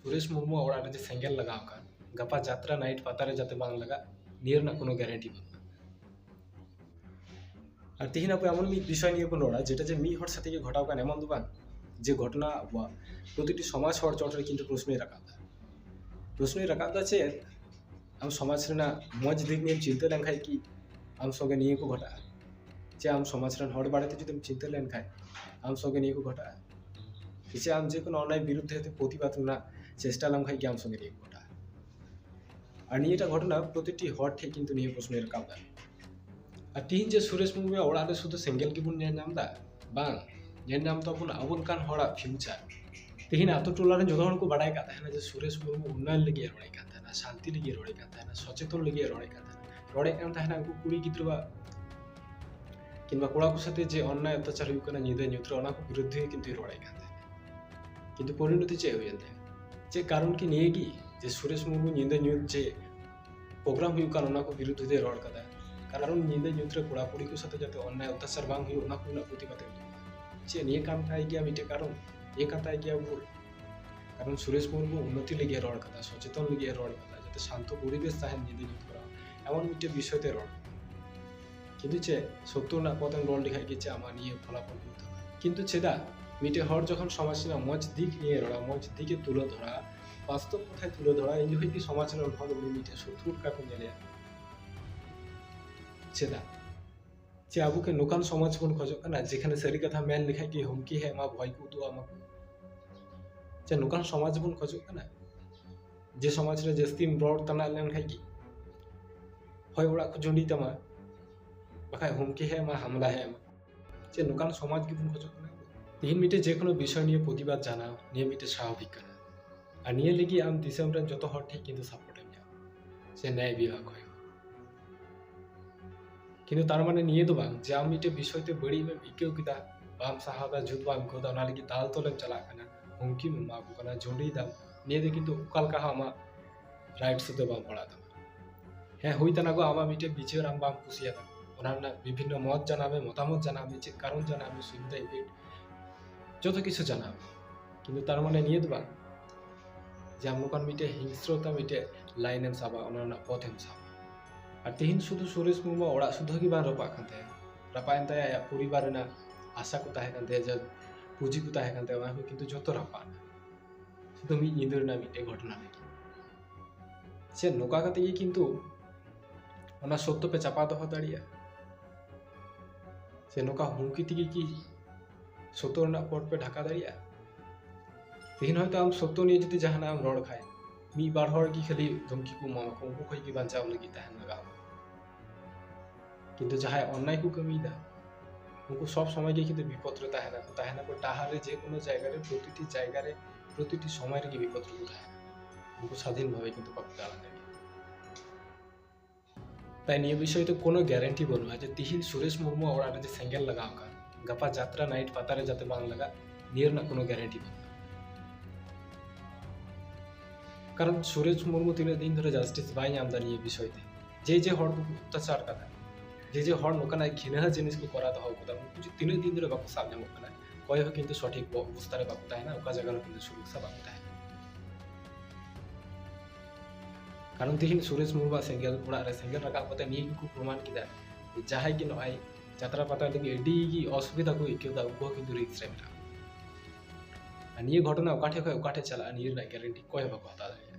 ᱥᱩᱨᱮᱥ ᱢᱩᱨᱢᱩᱣᱟᱜ ᱚᱲᱟᱜ ᱨᱮ ᱡᱮ ᱥᱮᱸᱜᱮᱞ ᱞᱟᱜᱟᱣ ᱟᱠᱟᱱ ᱜᱟᱯᱟ ᱡᱟᱛᱨᱟ ᱱᱟᱭᱤᱴ ᱯᱟᱛᱟ ᱨᱮ ᱡᱟᱛᱮ ᱵᱟᱝ ᱞᱟᱜᱟᱜ ᱱᱤᱭᱟᱹ ᱨᱮᱱᱟᱜ ᱠᱳᱱᱳ ᱜᱮᱨᱮᱱᱴᱤ ᱵᱟᱹᱱᱩᱜᱼᱟ ᱟᱨ ᱛᱤᱦᱤᱧ ᱟᱵᱚ ᱮᱢᱚᱱ ᱢᱤᱫ ᱵᱤᱥᱚᱭ ᱱᱤᱭᱮ ᱵᱚᱱ ᱨᱚᱲᱟ ᱡᱮᱴᱟ ᱡᱮ ᱢᱤᱫ ᱦᱚᱲ ᱥᱟᱛᱮ ᱜᱮ ᱜᱷᱚᱴᱟᱣ ᱟᱠᱟᱱ ᱮᱢᱚᱱ ᱫᱚ ᱵᱟᱝ ᱡᱮ ᱜᱷᱚᱴᱚᱱᱟ ᱟᱵᱚᱣᱟᱜ ᱯᱨᱚᱛᱤᱴᱤ ᱥᱚᱢᱟᱡᱽ ᱦᱚᱲ ᱪᱚᱴ ᱨᱮ ᱠᱤᱱᱛᱩ ᱯᱨᱚᱥᱱᱚᱭ ᱨᱟᱠᱟᱵ ᱮᱫᱟ ᱯᱨᱚᱥᱱᱚᱭ ᱨᱟᱠᱟᱵ ᱮᱫᱟ ᱪᱮᱫ ᱟᱢ ᱥᱚᱢᱟᱡᱽ ᱨᱮᱱᱟᱜ ᱢᱚᱡᱽ ᱫᱤᱠ ᱱᱤᱭᱮᱢ ᱪᱤᱱᱛᱟᱹ ᱞᱮᱱᱠᱷᱟᱱ ᱠᱤ ᱟᱢ ᱥᱚᱸᱜᱮ ᱱᱤᱭᱟᱹ ᱠᱚ ᱜᱷᱚᱴᱟᱜᱼᱟ ᱪᱮ ᱟᱢ ᱥᱚᱢᱟᱡᱽ ᱨᱮᱱ ᱦᱚᱲ ᱵᱟᱨᱮᱛᱮ ᱡᱩᱫᱤᱢ ᱪᱤᱱᱛᱟᱹ ᱞᱮᱱᱠᱷᱟᱱ ᱟᱢ ᱥᱚᱸᱜᱮ ᱱᱤᱭᱟᱹ ᱠᱚ ᱜᱷᱚᱴᱟᱜᱼᱟ ᱥᱮ ᱟᱢ ᱡᱮ ᱠᱳᱱᱳ ᱚᱱᱱᱟᱭ ᱵᱤᱨᱩᱫᱽ ᱛᱮ ᱦᱚᱭᱛᱳ ᱯᱨᱚᱛᱤᱵᱟᱫᱽ ᱨᱮᱱᱟᱜ ᱪᱮᱥᱴᱟ ᱞᱮᱢ ᱠᱷᱟᱱ ᱜᱮ ᱟᱢ ᱥᱚᱸᱜᱮ ᱨᱮᱯ ᱜᱷᱚᱴᱟᱜᱼᱟ ᱟᱨ ᱱᱤᱭᱟᱹᱴᱟᱜ ᱜᱷᱚᱴᱚᱱᱟ ᱯᱨᱚᱛᱤᱴᱤ ᱦᱚᱲ ᱴᱷᱮᱱ ᱠᱤᱱᱛᱩ ᱱᱤᱭᱟᱹ ᱯᱨᱚᱥᱱᱚᱭ ᱨᱟᱠᱟᱵ ᱮᱫᱟ ᱟᱨ ᱛᱤᱦᱤᱧ ᱡᱮ ᱥᱩᱨᱮᱥ ᱢᱩᱨᱢᱩᱣᱟᱜ ᱚᱲᱟᱜ ᱨᱮ ᱥᱩᱫᱷᱩ ᱥᱮᱸᱜᱮᱞ ᱜᱮᱵᱚᱱ ᱧᱮᱞ ᱧᱟᱢ ᱮᱫᱟ ᱵᱟᱝ ᱧᱮᱞ ᱧᱟᱢ ᱛᱟᱵᱚᱱ ᱟᱵᱚ ᱞᱮᱠᱟᱱ ᱦᱚᱲᱟᱜ ᱯᱷᱤᱭᱩᱪᱟᱨ ᱛᱤᱦᱤᱧ ᱟᱛᱳ ᱴᱚᱞᱟ ᱨᱮᱱ ᱡᱚᱛᱚ ᱦᱚᱲ ᱠᱚ ᱵᱟᱰᱟᱭ ᱠᱟᱜ ᱛᱟᱦᱮᱱᱟ ᱡᱮ ᱥᱩᱨᱮᱥ ᱢᱩᱨᱢᱩ ᱩᱱᱱᱚᱭᱚᱱ ᱞᱟᱹᱜᱤᱫ ᱮ ᱨᱚᱲᱮᱫ ᱠᱟᱱ ᱛᱟᱦᱮᱱᱟ ᱥᱟᱱᱛᱤ ᱞᱟᱹᱜᱤᱫ ᱮ ᱨᱚᱲᱮᱫ ᱠᱟᱱ ᱛᱟᱦᱮᱱᱟ ᱥᱚᱪᱮᱛᱚᱱ ᱞᱟᱹᱜᱤᱫ ᱮ ᱨᱚᱲᱮᱫ ᱠᱟᱱ ᱛᱟᱦᱮᱱᱟ ᱨᱚᱲᱮᱫ ᱠᱟᱱ ᱛᱟᱦᱮᱱᱟ ᱩᱱᱠᱩ ᱠᱩᱲᱤ ᱜᱤᱫᱽᱨᱟᱹᱣᱟᱜ ᱠᱤᱝᱵᱟ ᱠᱚᱲᱟ ᱠᱚ ᱥᱟᱛᱮ ᱡᱮ ᱚᱱᱱᱟᱭ ᱚᱛᱛᱟᱪᱟᱨ ᱦᱩᱭᱩᱜ ᱠᱟᱱᱟ ᱧᱤᱫᱟᱹ ᱧᱩᱛ ᱨᱮ ᱚᱱᱟ ᱠᱚ ᱵᱤᱨᱩᱫᱽ ᱨᱮ ᱠᱤᱱᱛᱩᱭ ᱨᱚᱲᱮᱫ ᱠᱟᱱ ᱛᱟᱦᱮᱸᱫ ᱠᱤᱱᱛᱩ ᱯᱚᱨᱤᱱᱚᱛᱤ ᱪᱮᱫ ᱦᱩᱭᱮᱱ ᱛᱟᱭᱟ ᱪᱮᱫ ᱠᱟᱨᱚᱱ ᱠᱤ ᱱᱤᱭᱟᱹ ᱜᱮ ᱡᱮ ᱥᱩᱨᱮᱥ ᱢᱩᱨᱢᱩ ᱧᱤᱫᱟᱹ ᱧᱩᱛ ᱡᱮ ᱯᱨᱳᱜᱨᱟᱢ ᱦᱩᱭᱩᱜ ᱠᱟᱱ ᱚᱱᱟ ᱠᱚ ᱵᱤᱨᱩᱫᱽ ᱨᱮ ᱨᱚᱲ ᱠᱟᱫᱟ ᱠᱟᱨᱚᱱ ᱧᱤᱫᱟᱹ ᱧᱩᱛ ᱨᱮ ᱠᱚᱲᱟ ᱠᱩᱲᱤ ᱠᱚ ᱥᱟᱛᱮ ᱡᱟᱛᱮ ᱚᱱᱱᱟᱭ ᱚᱛᱛᱟᱪᱟᱨ ᱵᱟᱝ ᱦᱩᱭᱩᱜ ᱚᱱᱟ ᱠᱚ ᱨᱮᱱᱟᱜ ᱯᱨᱚᱛᱤᱵᱟᱫ ᱪᱮᱫ ᱱᱤᱭᱟᱹ ᱠᱟᱱ ᱛᱟᱭ ᱜᱮᱭᱟ ᱢᱤᱫᱴᱮᱡ ᱠᱟᱨᱚᱱ ᱱᱤᱭᱟᱹ ᱠᱟᱱ ᱛᱟᱭ ᱜᱮᱭᱟ ᱵᱷᱩᱞ ᱠᱟᱨᱚᱱ ᱥᱩᱨᱮᱥ ᱢᱩᱨᱢᱩ ᱩন্নতি ᱞᱟᱹᱜᱤᱫ ᱨᱚᱲ ᱠᱟᱫᱟ ᱥᱚᱪᱮᱛᱚᱱ ᱞᱟᱹᱜᱤᱫ ᱨᱚᱲ ᱠᱟᱫᱟ ᱡᱟᱛᱮ ᱥᱟᱱᱛᱚ ᱯᱚᱨᱤᱵᱮᱥ ᱛᱟᱦᱮᱱ ᱧᱤᱫᱟᱹ ᱧᱩᱛ ᱠᱚᱨᱟᱣ ᱮᱢᱚᱱ ᱢᱤᱫᱴᱮᱡ ᱵᱤᱥᱚᱭ ᱛᱮ ᱨᱚᱲ ᱠᱤᱱᱛᱩ ᱪᱮᱫ ᱥᱚᱛᱛᱚ ᱨᱮᱱᱟᱜ ᱯᱚᱛᱷᱮᱢ ᱨᱚᱲ ᱞᱮᱠᱷᱟᱡ ᱜᱮ ᱪᱮᱫ ᱟᱢᱟᱜ ᱱᱤᱭᱟᱹ ᱯᱷᱚᱞᱟᱯᱷᱚᱞ ᱦᱩᱭᱩᱜ ᱛᱟᱢᱟ ᱠᱤᱱᱛᱩ ᱪᱮᱫᱟᱜ ᱢᱤᱫᱴᱮᱡ ᱦᱚᱲ ᱡᱚᱠᱷᱚᱱ ᱥᱚᱢᱟᱡᱽ ᱨᱮᱱᱟᱜ ᱢᱚᱡᱽ ᱫᱤᱠ ᱱᱤᱭᱮ ᱨᱚᱲᱟ ᱢᱚᱡᱽ ᱫᱤᱠᱮ ᱛᱩᱞᱟᱹ ᱫᱷᱚᱨᱟ ᱵᱟᱥᱛᱚᱵ ᱠᱚᱛᱷᱟᱭ ᱛᱩᱞᱟᱹ ᱫᱷᱚᱨᱟ ᱤᱧ ᱡᱚᱠᱷᱚᱱ ᱜᱮ ᱥᱚᱢᱟᱡᱽ ᱨᱮᱱ ᱦᱚᱲ ᱩᱱᱤ ᱢᱤᱫᱴᱮᱡ ᱥᱚᱛᱨᱩ ᱞᱮᱠᱟ ᱠᱚ ᱧᱮᱞᱮᱭᱟ ᱪᱮᱫᱟᱜ ᱪᱮ ᱟᱵᱚ ᱠᱤ ᱱᱚᱝᱠᱟᱱ ᱥᱚᱢᱟᱡᱽ ᱵᱚᱱ ᱠᱷᱚᱡᱚᱜ ᱠᱟᱱᱟ ᱡᱮᱠᱷᱟᱱᱮ ᱥᱟᱹᱨᱤ ᱠᱟᱛᱷᱟ ᱢᱮᱱ ᱞᱮᱠᱷᱟᱡ ᱜᱮ ᱦᱩᱢᱠᱤ ᱦᱮᱡ ᱟᱢᱟ ᱵᱷᱚᱭ ᱠᱚ ᱩᱫᱩᱜ ᱟᱢᱟ ᱪᱮ ᱱᱚᱝᱠᱟᱱ ᱥᱚᱢᱟᱡᱽ ᱵᱚᱱ ᱠᱷᱚᱡᱚᱜ ᱠᱟᱱᱟ ᱡᱮ ᱥᱚᱢᱟᱡᱽ ᱨᱮ ᱡᱟᱹᱥᱛᱤᱢ ᱨᱚᱲ ᱛᱟᱱᱟᱜ ᱞᱮᱱᱠᱷᱟᱡ ᱜᱮ ᱦᱚᱭ ᱚᱲᱟᱜ ᱠᱚ ᱡᱩᱸᱰᱤ ᱛᱟᱢᱟ ᱵᱟᱠᱷᱟᱡ ᱦᱩᱢᱠᱤ ᱦᱮᱡ ᱟᱢᱟ ᱦᱟᱢᱞᱟ ᱦᱮᱡ ᱟᱢᱟ ᱪᱮ ᱱᱚᱝᱠᱟᱱ ᱥᱚᱢᱟᱡᱽ ᱜᱮᱵᱚᱱ ᱠᱷᱚᱡᱚᱜ ᱠᱟᱱᱟ ᱛᱮᱦᱮᱧ ᱢᱤᱫᱴᱮᱡ ᱡᱮ ᱠᱳᱱᱳ ᱵᱤᱥᱚᱭ ᱱᱤᱭᱮ ᱯᱨᱚᱛᱤᱵᱟᱫ ᱡᱟᱱᱟᱣ ᱱᱤᱭᱟᱹ ᱢᱤᱫᱴᱮᱡ ᱥᱟᱵᱷᱟᱵᱤᱠ ᱠᱟᱱᱟ ᱟᱨ ᱱᱤᱭᱟᱹ ᱞᱟᱹᱜᱤᱫ ᱟᱢ ᱫᱤᱥᱚᱢ ᱨᱮᱱ ᱡᱚᱛᱚ ᱦᱚᱲ ᱴᱷᱮᱡ ᱠᱤᱱᱛᱩ ᱥᱟᱯᱳᱨᱴ ᱮᱢ ᱧᱟᱢᱟ ᱥᱮ ᱱᱮᱭ ᱵᱤᱣᱟ ᱠᱷᱚᱡ ᱠᱤᱱᱛᱩ ᱛᱟᱨ ᱢᱟᱱᱮ ᱱᱤᱭᱟᱹ ᱫᱚ ᱵᱟᱝ ᱡᱮ ᱟᱢ ᱢᱤᱫᱴᱮᱡ ᱵᱤᱥᱚᱭ ᱛᱮ ᱵᱟᱹᱲᱤᱡ ᱮᱢ ᱟᱹᱭᱠᱟᱹᱣ ᱠᱮᱫᱟ ᱵᱟᱢ ᱥᱟᱦᱟᱣ ᱫᱟ ᱡᱩᱛ ᱵᱟᱢ ᱟᱹᱭᱠᱟᱹᱣ ᱫᱟ ᱚᱱᱟ ᱞᱟᱹᱜᱤᱫ ᱫᱟᱞ ᱛᱚᱞᱮᱢ ᱪᱟᱞᱟᱜ ᱠᱟᱱᱟ ᱦᱩᱢᱠᱤᱢ ᱮᱢᱟ ᱠᱚ ᱠᱟᱱᱟ ᱡᱩᱸᱰᱤᱭ ᱫᱟᱢ ᱱᱤᱭᱟᱹ ᱫᱚ ᱠᱤᱱᱛᱩ ᱚᱠᱟ ᱞᱮᱠᱟ ᱦᱚᱸ ᱟᱢᱟᱜ ᱨᱟᱭᱤᱴ ᱥᱮᱫ ᱫᱚ ᱵᱟᱝ ᱯᱟᱲᱟᱜ ᱛᱟᱢᱟ ᱦᱮᱸ ᱦᱩᱭ ᱛᱟᱱᱟᱜᱚ ᱟᱢᱟᱜ ᱢᱤᱫᱴᱮᱱ ᱵᱤᱪᱟᱹᱨ ᱟᱢ ᱵᱟᱢ ᱠᱩᱥᱤᱭᱟᱫᱟ ᱚᱱᱟ ᱨᱮᱱᱟᱜ ᱵᱤᱵᱷᱤᱱᱱᱚ ᱢᱚᱛ ᱡᱟᱱᱟᱣ ᱢᱮ ᱢᱚᱛᱟᱢᱚᱛ ᱡᱟᱱᱟᱣ ᱢᱮ ᱪᱮᱫ ᱠᱟᱨᱚᱱ ᱡᱟᱱᱟᱣ ᱢᱮ ᱥᱩᱵᱤᱫᱷᱟ ᱤᱯᱷᱮᱠᱴ ᱡᱚᱛᱚ ᱠᱤᱪᱷᱩ ᱡᱟᱱᱟᱣ ᱢᱮ ᱠᱤᱱᱛᱩ ᱛᱟᱨ ᱢᱟᱱᱮ ᱱᱤᱭᱟᱹ ᱫᱚ ᱵᱟᱝ ᱡᱮ ᱟᱢ ᱱᱚᱝᱠᱟᱱ ᱢᱤᱫᱴᱮᱱ ᱦᱤᱝᱥᱨᱚᱛᱟ ᱢᱤᱫᱴᱮᱱ ᱞᱟᱭᱤᱱ ᱮᱢ ᱥᱟᱵᱟ ᱚᱱᱟ ᱨᱮᱱᱟᱜ ᱯᱚᱛᱷ ᱮᱢ ᱥᱟᱵᱟ ᱟᱨ ᱛᱮᱦᱮᱧ ᱥᱩᱫᱷᱩ ᱥᱩᱨᱮᱥ ᱢᱩᱨᱢᱩ ᱚᱲᱟᱜ ᱥᱩᱫᱷᱟᱹ ᱜᱮ ᱵᱟᱝ ᱨᱟᱯᱟᱜ ᱠᱟᱱ ᱛᱟᱭᱟ ᱨᱟᱯᱟᱜ ᱮᱱ ᱛᱟᱭᱟ ᱟᱭᱟᱜ ᱯᱚᱨᱤᱵᱟᱨ ᱨᱮᱱᱟᱜ ᱟᱥᱟ ᱠᱚ ᱛᱟᱦᱮᱸ ᱠᱟᱱ ᱛᱟᱭᱟ ᱡᱟ ᱯᱩᱸᱡᱤ ᱠᱚ ᱛᱟᱦᱮᱸ ᱠᱟᱱ ᱛᱟᱭᱟ ᱚᱱᱟ ᱠᱚ ᱠᱤᱱᱛᱩ ᱡᱚᱛᱚ ᱨᱟᱯᱟᱜ ᱮᱱᱟ ᱥᱩᱫᱷᱩ ᱢᱤᱫ ᱧᱤᱫᱟᱹ ᱨᱮᱱᱟᱜ ᱢᱤᱫᱴᱮᱱ ᱜᱷᱚᱴᱚᱱᱟ ᱨᱮ ᱥᱮ ᱱᱚᱝᱠᱟ ᱠᱟᱛᱮ ᱜᱮ ᱠᱤᱱᱛᱩ ᱚᱱᱟ ᱥᱚᱛᱛᱚ ᱯᱮ ᱪᱟᱯᱟ ᱫᱚᱦᱚ ᱫᱟᱲᱮᱭᱟᱜᱼᱟ ᱥᱮ ᱱᱚᱝᱠᱟ ᱦᱩᱢᱠᱤ ᱛᱮᱜᱮ ᱠᱤ ᱥᱚᱛᱛᱚ ᱨᱮᱱᱟᱜ ᱯᱚᱨ ᱯᱮ ᱰᱷᱟᱠᱟ ᱫᱟᱲᱮᱭᱟᱜᱼᱟ ᱛᱮᱦᱮᱧ ᱦᱚᱭᱛᱳ ᱟᱢ ᱥᱚᱛᱛᱚ ᱱᱤᱭᱮ ᱡᱩᱫᱤ ᱡᱟᱦᱟᱱᱟᱜ ᱮᱢ ᱨᱚᱲ ᱠᱷᱟᱡ ᱢᱤᱫ ᱵᱟᱨ ᱦᱚᱲ ᱜᱮ ᱠᱷᱟᱹᱞᱤ ᱫᱷᱩᱢᱠᱤ ᱠᱚ ᱮᱢᱟᱢᱟᱠᱚ ᱩᱱᱠᱩ ᱠᱷᱚᱡ ᱜᱮ ᱵᱟᱧᱪᱟᱣ ᱞᱟᱹᱜᱤᱫ ᱛᱟᱦᱮᱱ ᱞᱟᱜᱟᱣ ᱢᱮᱭᱟ ᱠᱤᱱᱛᱩ ᱡᱟᱦᱟᱸᱭ ᱚᱱᱱᱟᱭ ᱠᱚ ᱠᱟᱹᱢᱤᱭᱮᱫᱟ ᱩᱱᱠᱩ ᱥᱚᱵ ᱥᱚᱢᱚᱭ ᱜᱮ ᱠᱤᱱᱛᱩ ᱵᱤᱯᱚᱫ ᱨᱮ ᱛᱟᱦᱮᱱᱟ ᱠᱚ ᱛᱟᱦᱮᱱᱟ ᱠᱚ ᱰᱟᱦᱟᱨ ᱨᱮ ᱡᱮ ᱠᱳᱱᱳ ᱡᱟᱭᱜᱟ ᱨᱮ ᱯᱨᱚᱛᱤᱴᱤ ᱡᱟᱭᱜᱟ ᱨᱮ ᱯᱨᱚᱛᱤᱴᱤ ᱥᱚᱢᱚᱭ ᱨᱮᱜᱮ ᱵᱤᱯᱚᱫ ᱨᱮᱠᱚ ᱛᱟᱦᱮᱱᱟ ᱩᱱᱠᱩ ᱥᱟᱫᱷᱤᱱ ᱵᱷᱟᱵᱮ ᱠᱤᱱᱛᱩ ᱵᱟᱠᱚ ᱫᱟᱬᱟᱱ ᱫᱟᱲᱮᱭᱟᱜᱼᱟ ᱛᱟᱭ ᱱᱤᱭᱟᱹ ᱵᱤᱥᱚᱭ ᱛᱮ ᱠᱳᱱᱳ ᱜᱮᱨᱮᱱᱴᱤ ᱵᱟᱹᱱᱩᱜᱼᱟ ᱡᱮ ᱛᱤᱦᱤᱧ ᱥᱩᱨᱮᱥ ᱢᱩᱨᱢᱩ ᱚᱲᱟᱜ ᱨᱮ ᱡᱮ ᱥᱮᱸᱜᱮᱞ ᱞᱟᱜᱟᱣ ᱟᱠᱟᱱ ᱜᱟᱯᱟ ᱡᱟᱛᱨᱟ ᱱᱟᱭᱤᱴ ᱯᱟᱛᱟ ᱨᱮ ᱡᱟᱛᱮ ᱵᱟᱝ ᱞᱟᱜᱟᱜ ᱱᱤᱭᱟᱹ ᱨᱮᱱᱟᱜ ᱠᱳᱱᱳ ᱜᱮᱨᱮᱱᱴᱤ ᱵᱟᱹᱱᱩᱜᱼᱟ ᱠᱟᱨᱚᱱ ᱥᱩᱨᱮᱡᱽ ᱢᱩᱨᱢᱩ ᱛᱤᱱᱟᱹᱜ ᱫᱤᱱ ᱫᱷᱚᱨᱮ ᱡᱟᱥᱴᱤᱥ ᱵᱟᱭ ᱧᱟᱢ ᱮᱫᱟ ᱱᱤᱭᱟᱹ ᱵᱤᱥᱚᱭ ᱛᱮ ᱡᱮ ᱡᱮ ᱦᱚᱲ ᱠᱚ ᱚᱛᱛᱟᱪᱟᱨ ᱠᱟᱫᱟ ᱡᱮ ᱡᱮ ᱦᱚᱲ ᱱᱚᱝᱠᱟᱱᱟᱜ ᱜᱷᱤᱱᱟᱹ ᱡᱤᱱᱤᱥ ᱠᱚ ᱠᱚᱨᱟᱣ ᱫᱚᱦᱚ ᱠᱟᱫᱟ ᱩᱱᱠᱩ ᱡᱩᱫᱤ ᱛᱤᱱᱟᱹᱜ ᱫᱤᱱ ᱫᱷᱚᱨᱮ ᱵᱟᱠᱚ ᱥᱟᱵ ᱧᱟᱢᱚᱜ ᱠᱟᱱᱟ ᱚᱠᱚᱭ ᱦᱚᱸ ᱠᱤᱱᱛᱩ ᱥᱚᱴᱷᱤᱠ ᱚᱵᱚᱥᱛᱟ ᱨᱮ ᱵᱟᱠᱚ ᱛᱟᱦᱮᱱᱟ ᱚᱠᱟ ᱡᱟᱭᱜᱟ ᱨᱮ ᱠᱤᱱᱛᱩ ᱥᱩᱨᱚᱠᱥᱟ ᱵᱟᱠᱚ ᱛᱟᱦᱮᱱᱟ ᱠᱟᱨᱚᱱ ᱛᱮᱦᱮᱧ ᱥᱩᱨᱮᱡᱽ ᱢᱩᱨᱢᱩ ᱥᱮᱸᱜᱮᱞ ᱚᱲᱟᱜ ᱨᱮ ᱥᱮᱸᱜᱮᱞ ᱨᱟᱠᱟᱵ ᱠᱟᱛᱮ ᱱᱤᱭᱟᱹ ᱜᱮᱠᱚ ᱯᱨᱚᱢᱟᱱ ᱠᱮᱫᱟ ᱡᱟᱦᱟᱸᱭ ᱜᱮ ᱱᱚᱜᱼᱚᱭ ᱡᱟᱛᱨᱟ ᱯᱟᱛᱟ ᱞᱟᱹᱜᱤᱫ ᱟᱹᱰᱤ ᱜᱮ ᱚᱥᱩᱵᱤᱫᱷᱟ ᱠᱚ ᱟᱹᱭᱠᱟᱹᱣᱫᱟ ᱩᱱᱠᱩ ᱦᱚᱸ ᱠᱤᱱᱛᱩ ᱨᱤᱠᱥ ᱨᱮ ᱢᱮᱱᱟᱜᱼᱟ ᱟᱨ ᱱᱤᱭᱟᱹ ᱜᱷᱚᱴᱚᱱᱟ ᱚᱠᱟ ᱴᱷᱮᱡ ᱠᱷᱚᱡ ᱚᱠᱟ ᱴᱷᱮᱡ ᱪᱟᱞᱟᱜᱼᱟ ᱱᱤᱭᱟᱹ ᱨᱮᱱᱟᱜ ᱜᱮᱨᱮᱱᱴᱤ ᱚᱠᱚᱭ ᱦᱚᱸ ᱵᱟᱠᱚ ᱦᱟᱛᱟᱣ ᱫᱟᱲᱮᱭᱟᱜᱼᱟ